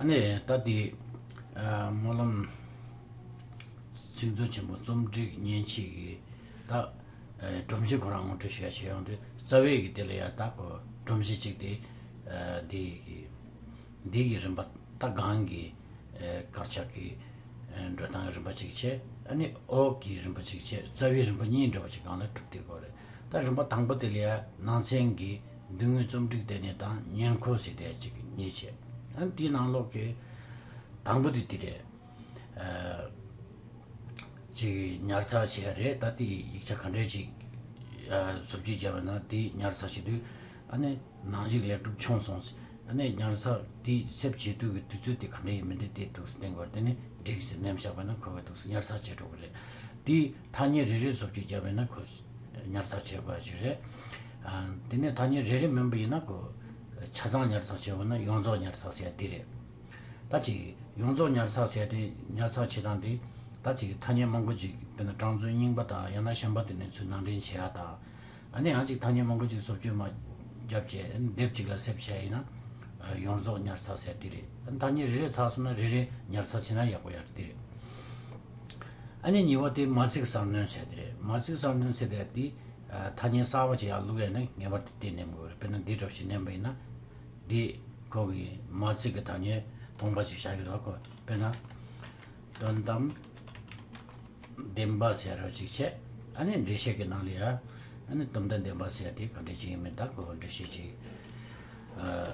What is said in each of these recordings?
ཨ་ནེ། ད་ལྟའི་སྨོན་ལམ་ཚིག་མཛོད་ཆེན་པོ་རྩོམ་སྒྲིག་བརྙན་ཕྱིས་ཀྱི་བདག། སྒྲོམ་གཞི་ཁོ་རང་ངོ་སྤྲོད་ཞུ་ཡ་བྱེད་ཡོང་དུས་རྩ་བའི་གི་དེ་ལ་ཡ་བདག་གོ་སྒྲོམ་གཞི་གཅིག་དེ། འདི་གི་འདི་གི་རིམ་པ་ད་གང་གི་དཀར་ཆག་གི་འགྲོས་སྟངས་ཀྱི་རིམ་པ་གཅིག་བྱས་ཨ་ནེ། ཨོག་གི་རིམ་པ་གཅིག་བྱས་རྩ་བའི་རིམ་པ་གཉིས་འདྲ་བ་གཅིག་གང་ལ་གྲུབ་དེ་གོ་རེད། ད་རིམ་པ་དང་པོ་དེ་ལ་ཡ་ནང་ཚན་གྱི། མདུན་ངོས་རྩོམ་སྒྲིག་ལྟེ་གནས་དང་ཉེར་མཁོ་གཟིགས་ལྟེ་གཅིག་གི་གཉིས་བྱས། དེའི་ནང་ལོགས་ཀྱི་དང་པོ་དེ་དེ་རེད། ཅིག་ཉར་ཚགས་བྱས་རེད་ད་དེའི་ཡིག་ཆ་ག་འདྲའི་ཅིག་གཟུབ་བྱེད་བྱས་པ་ན་དེ་ཉར་ཚགས་བྱེད་དུས་ཨ་ནི་ནང་གཞུག་ལེགས་གྲུབ་བྱུང་སོང་ཟེར། ཨ་ནི་ཉར་ཚགས་དེ་གསེབ་བྱེད་དུས་ཀྱི་དུས་ཚོད་དེ་ག་འདྲ་ཡིན་མིན་དེ་དེ་ཐུགས་སུ་གཏན་དགོས་རེད་དེ་ནི་འགྲིག་ཟེར་ནེམ་བཞག་པ་ན་ཁོ་ག་ཐུགས་སུ་ཉར་ཚགས་བྱེད་འགྲོ་གི་རེད། དེའི་ཐ་སྙད་རེ་རེ་གཟུབ་བྱེད་བྱས་པས་ན་ཁོ། ཉར་ཚགས་བྱེད་པ་ཞིག་རེད། དེ་ནས་ཐ་སྙད་རེ་རེ་མིན་པ་ཡིན་ན། ཆ་ཚང་ཉར་ཚགས་བྱེད་པ་ནི་ཡོངས་རྫོགས་ཉར་ཚགས་བྱེད་འདི་རེད། ད་ཅིག་ཡོངས་རྫོགས་ཉར་ཚགས་བྱེད་དེ་ཉར་ཚགས་བྱེད་སྟངས་འདི། ད་ཅིག་ཐ་སྙད་མང་པོ་ཅིག་དཔེར་ན་གྲངས་ཚོད་རྙིང་པ་དང་ཡང་ན་གཞན་པ་དེ་ནས་ཚུལ་ནང་འདྲེན་བྱེད་ཡ་དང། ཨ་ནི་ཡང་ཅིག་ཐ་སྙད་མང་པོ་ཅིག་སོབ་བཅོས་མ་བརྒྱབ་རྗེས་སྡེབ་གཅིག་ལ་སེབ་བྱེད་ཡིན་ན། ཡོངས་རྫོགས་ཉར་ཚགས་བྱེད་འདི་རེད། ཐ་སྙད་རེ་རེ་ཚགས་སོང་ན་རེ་རེ་ཉར་ཚགས་བྱེད་ན་ཡག་པོ་ཡག་འདི་རེད། ཨ་ནི་ཉི་བ་དེ་མ་ཚིག་གསར་སྣོན་ཟེར་དེ་རེད་མ་ཚིག་གསར་སྣོན་ཟེར་དེ་དེ་ཐ་སྙད་གསར་བ་ཅིག་ཡག་ལུགས་ཡ་ན་ངེས་པར་དུ་དེ་ནེམ་དགོས་རེད་དཔེར་ན་འདི་འདྲ་བ་ཞིག་ནེམ་པ་ཡིན་ན་འདི་ཁོ་གི་མ་ཚིག་གི་ཐ་སྙད་སྟོང་པ་ཞིག་བྱ་གི་རོགས་གོ་དཔེར་ན། དོན་དམ་བདེན་པ་ཟེར་རོ་ཅིག་བྱས་ཨ་ནི་འགྲེལ་བཤད་ཀྱི་ནང་ལ་ཡ་ཨ་ནི་དོན་དམ་བདེན་པ་ཟེར་དེ་ག་འགྲེལ་ཅིག་ཡིན་མིན་ད་ཁོ་འགྲེལ་བཤད་ཅིག་ཨ།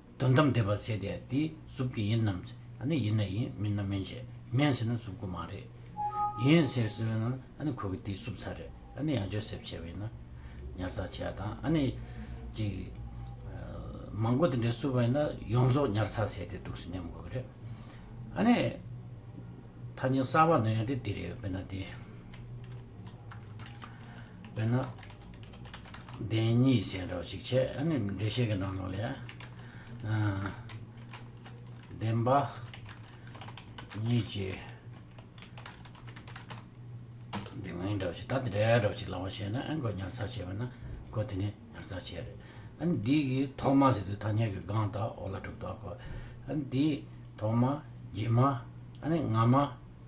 དོན་དམ་བདེ་བར་ཟད་དེ་དེའི་གཟུགས་དེ་ཡིན་ནམ་ཟེར་ན་ཡིན་ན་ཡིན་མིན་ན་མིན་ཞེས་མིན་ཟེར་ན་གཟུགས་སྐུ་མ་རེད། ཡིན་ཟེར་ཟེར་བས་ན་ཁོ་གི་དེའི་གཟུགས་ཚ་རེད་ཨ་ནི་ཡང་ཅོ་སེར་བྱས་བས་ན་ཉར་ཚགས་བྱས་དང་ཨ་ནི་ཅིག་མང་པོ་དེ་འདྲས་བསུབ་བས་ན་ཡོངས་རྫོགས་ཉར་ཚགས་བྱས་ཏེ་འདུག་ཟེར་སྙམ་དགོས་རེད། ཨ་ནི་ཐ་སྙད་གསར་བ་འདོན་ཡང་དེ་དེ་རེད་བས་ན་དེ་བས་ན། བདེན་གཉིས་ཟེར་འདྲ་བ་ཞིག་བྱས་ཨ་ནི་འགྲེལ་བཤད་ཀྱི་ནང་ལོགས་ལས། བདེན་པ་གཉིས་ཀྱི་བདེན་གཉིས་འདྲ་བ་ཞིག་ད་དེ་འདྲ་འདྲ་བ་ཞིག་ལགས་པ་བྱས་ན་ཨ་ནི་གོ་ཉར་ཚགས་བྱས་པ་ན་གོ་དེ་ནས་ཉར་ཚགས་བྱས་རེད། ཨ་ནི་འདི་གི་ཐོག་མ་ཟེར་དུས་ཐ་སྙད་ཀྱི་སྒང་དག་འོག་ལ་གྲུབ་དོགས་གོ། ཨ་ནི་དེའི་ཐོག་མ་ཡིན་མ་ཨ་ནི་ང་མ་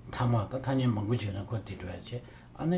མཐའ་མ་དང་ཐ་སྙད་མང་པོ་བྱས་ན་གོ་དེ་འདྲ་བ་བྱས་ཨ་ནི་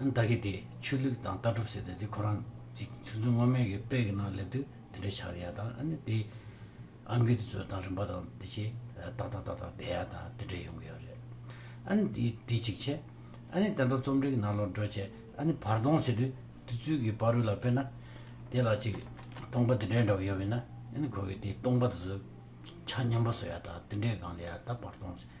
བདག་གིས་དེ་ཆོས་ལུགས་དང་ལྟ་གྲུབ་ཟེར་ཏེ་དེ་ཁོ་རང་ཅིག་ཆུ་མཛོད་སྔོན་མའི་གི་དཔེ་གི་ནང་སླེབས་དུས་དེ་འདྲའི་ཆགས་ཡ་དང་ཨ་ནི་དེ་ཨ་འགུས་དེ་ཚོ་དང་རིམ་པ་དང་དེ་ཆེ་ཏག་ཏག་ཏག་ཏག་བསྡད་ཡ་དང་དེ་འདྲའི་ཡོང་གི་ཡོད་རེད། ཨ་ནི་དེ་དེ་ཅིག་བྱས། ཨ་ནི་དེ་འདྲ་རྩོམ་འབྲི་གི་ནང་ལོག་འགྲོ་བྱས་ཨ་ནི་བར་སྟོང་ཟེར་དུས་དེ་ཚུལ་གི་བ་རུ་ལ་དཔེར་ན་དེ་ལ་ཅིག་སྟོང་པ་དེ་འདྲའི་འདྲ་བ་ཡོད་པས་ན་ཨ་ནི་ཁོ་གིས་དེ་སྟོང་པ་དེ་ཚོ་ཆ་མཉམ་པ་བཟོ་ཡ་དང་དེ་འདྲའི་སྒང་ལ་ཡ་ད་བར་སྟོང་ཟེར།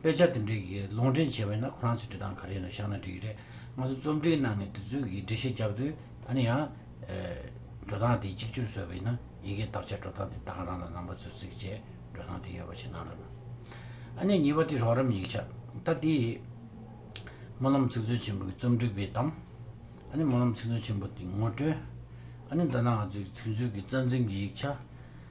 དཔེ་ཆ་དེ་འདྲའི་གི་ལུང་འདྲེན་བྱས་པ་ཡིན་ན་ཁོ་རང་ཚོས་འབྲི་སྟངས་ག་རེ་ཡིན་ནོ་བཞག་ན་འགྲིག་གི་རེད། ང་ཚོ་རྩོམ་འབྲིའི་ནང་ནས་དེ་ཚོའི་གི་འགྲེལ་བཤད་བརྒྱབ་དུས་ད་ནི་ཡང། འགྲོ་སྟངས་དེ་གཅིག་གྱུར་བཟོས་པ་ཡིན་ན་ཡི་གེ་དག་ཆ་འགྲོ་སྟངས་དེ་དག་རང་ལ་ནང་པ་ཚོས་ཚིག་བཅད་འགྲོ་སྟངས་དེ་ཡོད་པ་ཞིག་གནང་རོགས་གནང། ཨ་ནེ་གཉིས་པ་དེ་རོགས་རམ་ཡིག་ཆ་ད་དེ། སྨོན་ལམ་ཚིག་མཛོད་ཆེན་པོ་གི་རྩོམ་སྒྲིག་པའི་གཏམ། ཨ་ནེ་སྨོན་ལམ་ཚིག་མཛོད་ཆེན་པོ་དེའི་ངོ་སྤྲོད། ཨ་ནེ་མདོ་སྣ་ང་ཚོའི་ཚིག་མཛོད་ཀྱི་རྩ་འཛིན་གྱི་ཡིག་ཆ།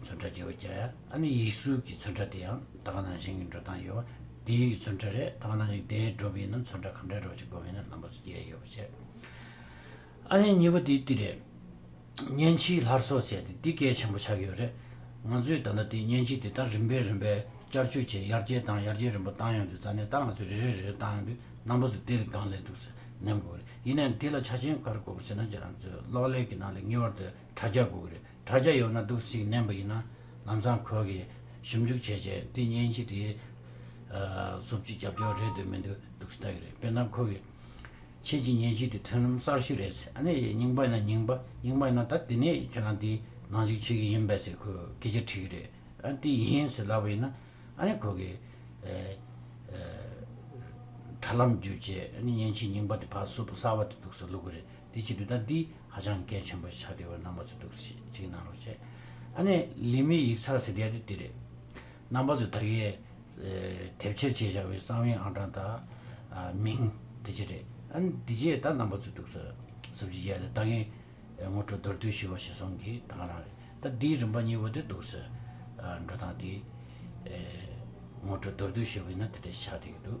མཚོན་ཁྲ་རྒྱལ་བོ་རྒྱལ་ཨ་ནི་ཡིག་གཟུགས་ཀྱི་མཚོན་ཁྲ་དེ་ཡང་ད་ག་ནང་བཞིན་གྱི་འགྲོ་སྟངས་ཡོད་པ་དེའི་ཡིག་མཚོན་ཁྲ་རེད་ད་ག་ནང་བཞིན་དེའི་སྒྲོམ་ཡིན་ན་མཚོན་ཁྲ་གང་འདྲའི་སྒྲོག་ཅིག་སྒོམ་ཡིན་ན་རྣམ་པ་སུ་རྒྱལ་ཡོད་པ་བྱེད་ཨ་ནི་གཉིས་པ་དེ་དེ་རེད། བརྙན་ཕྱིའི་ལྷར་སོ་བྱས་ཏེ་དེ་གལ་ཆེན་པོ་ཆགས་ཡོད་རེད། ང་ཚོས་ད་ལྟ་དེ་བརྙན་ཕྱི་དེ་དག་རིམ་པས་རིམ་པས་བསྐྱར་བཅོས་བྱས་ཡར་རྒྱས་བཏང་ཡར་རྒྱས་རིམ་པ་བཏང་ཡོང་དུས་རྩ་གནད་ལྟར་ང་ཚོས་རེ་རེ་རེ་རེ་བཏང་ཡོང་དུས་རྣམ་པ་སུ་དེ་ལས་གང་ལེགས་འདུག་ཟེར་སྙམ་དགོས་རེད་ཡིན་ནའང་དེ་ལ་ཆ་རྐྱེན་ག་རེ་དགོས་པ་ཟེར་ན་རྒྱ་རང་ཚོའི་གློག་ཀླད་ཀྱི་ནང་ལས་ངེས་བར་དུ་དྲ་རྒྱ་དགོས་ཀྱི་རེད། དྲ་རྒྱ་ཡོད་ན་སྡུག་ཟིག་བསྣན་པ་ཡིན་ན་ལམ་སང་གོས་ཀྱི་ཞིབ་འཇུག་བྱས་བྱས་དེ་གཉེན་གྱི་དེའི་གཟུགས་ཀྱི་རྒྱབ་སྐྱོར་རེད་འདོད་མི་འདོད་སྡུག་ཟིག་ལྟ་གི་རེད་དཔེར་ན་ཁོ་གི་ཁྱེད་ཀྱི་གཉེན་གྱི་དེ་མཐུན་ལམ་གསར་ཞིག་རེད་ཟེར་ཨ་ནེ་ཡེ་རྙིང་པ་ཡིན་ན་རྙིང་པ་རྙིང་པ་ཡིན་ན་ད་དེ་ནས་ཁྱེད་རང་དེའི་ནང་འཇུག་བྱེད་ཀྱི་ཡིན་པས་ཟེར་ཁོས་སྐད་ཆ་དྲིས་གི་རེད་ཨ་དེ་ཡིན་ཟེར་ལབ་པ་ཡིན་ན་ཨ་ནེ་ཁོ་གི་དྲ་ལམ་བརྒྱུད་བྱས་ཨ་ནེ་གཉེན་གྱི་རྙིང་པ་དེ་ཕ་བསུབ་གསར་བ་དེ་འདུག་ཟེར་ལུག་གི་རེད་དེ་བྱེད་དུས་ད་དེའི་ཧ་ཅང་མཁས་ཆེན་པོ་ཆགས་དེ་བར་རྣམ་པ་ཚོས་སྒྲུགས་ཤིག་ཅིག་གནང་རོགས་བྱས། ཨ་ནེ། ལི་མི་ཡིག་ཚགས་ཟེར་ཡ་དེ་དེ་རེད། རྣམ་པ་ཚོས་ད་གེ། དེབ་ཁྱེར་བྱས་བཞག་པའི་གསང་བའི་ཨང་གྲངས་དང། མིང། དེ་བྱས་རེད། ཨ་ནེ། དེ་རྗེས་ད་རྣམ་པ་ཚོས་སྒྲུགས་ཟེར། ཟུབ་ཅིག་བྱས་ཏེ་ད་གེ། ངོ་སྤྲོད་མདོར་བསྡུས་ཞུས་བ་ཞིག་སོང་གི་ད་ག་རང་རེད། ད་དེའི་རིམ་པ་གཉིས་པོ་དེ་སྡུག་ཟེར། འགྲོ་སྟངས་དེ། ངོ་སྤྲོད་མདོར་བསྡུས་ཞུས་པ་ཡིན་ན་དེ་འདྲའི་ཆགས་དེ་གི་འདུག།